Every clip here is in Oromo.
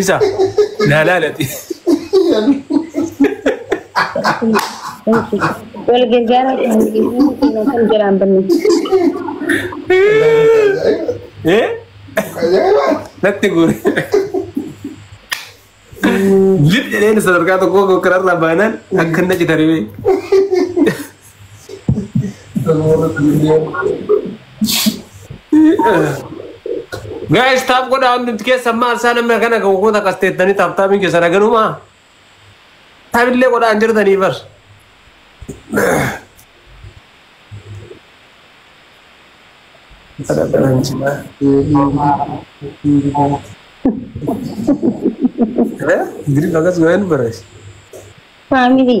Isa. Naa laalati. Wal gargaaraa kan kan jiraan banne. Eh? Natti guure. Lip jedheen sadarkaa tokkoo kanarraa baanaan akka inni achi taribee. Guys taaf godhaa hundumti keessan maal isaa namni akkana kan goota akkas teettanii taaf taabiin keessan haganumaa taabillee godhaa hin jirtanii bar. Giriin akkas yoo hin bareessu. Faamilii.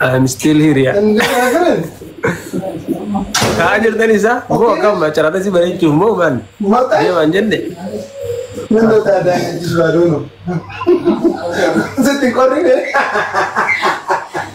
I'm still here yaa. Kaa jirtan isaa moo akkam macaraata si bareechuuf moo maal? Deemaan jenne. Sitti qorrine.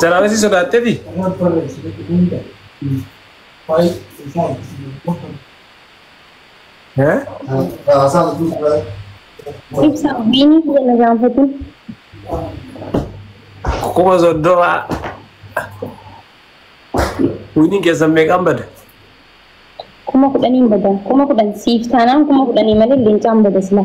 Jaraabee si sodaatteeti? Eh? Ibsa wayinii kiyya na gaanfatin. Kuma soddoma. Winiin keessan meeqaan bada? Kuma kudhaniin bada. Kuma kudhan siif taanaan kuma kudhanii malee leencaan bada sila.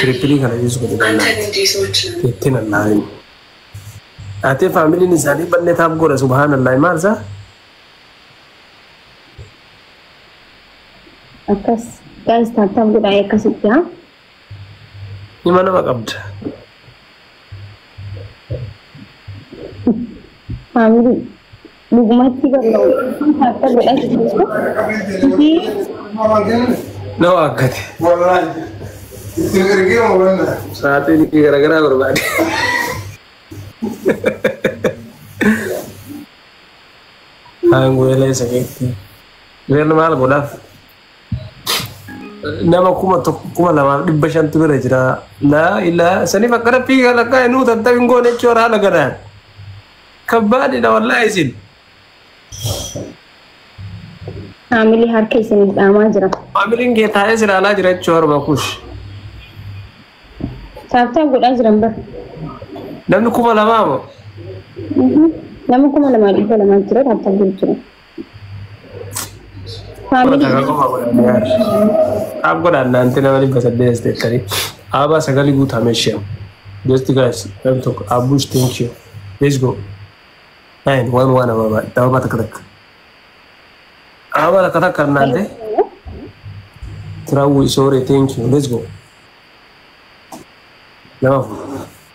Tirippilii kana yuus godhi bannaa. Itti nallaa'in. Ate faamiliin isaanii banne taaf godha subhaanallahi maal isaa? Akkas guys taap taap godhaa akkasitti haa. Hima nama qabda. Faamilii. Dhugumatti bar na'u harka godhatu jirtu isii Na waakkate. Wallaahi. Itti ergee hubannaa. Saaxiin garaagaraa barbaade. Aangoo elee isa keetti. Reerri maal godhaaf? Nama kuma tokko kuma lamaaf dhibba shantu bira jira. Laa ilaa saniif akka rabbii kan akka inni utan ta'in goone jechuun haala gadaan. Kabbaadidha wallahi isin. Faamilii harka isiniif dhaamaa jira. Faamiliin kee taa'ee si ilaalaa jira jechuu harma kush. Taaptaap godhaa jiran bar. Namni kuma lamaa moo? Nama kuma lamaa dhibba lamaa jira taaptaap godhu jira. Faamilii Takka qofa godhan yaar. Qaab godhan naanti nama dhibba saddeet as deettanii. Aabaa sagali guutaa meeshaa. Just guys, nam tokko. Abbush, thank you. Let's go. Nine, one, one ababa. Ababa takka takka. Ababa takka takka naante. Tirawu isoore, thank you. Let's go. Nama afur.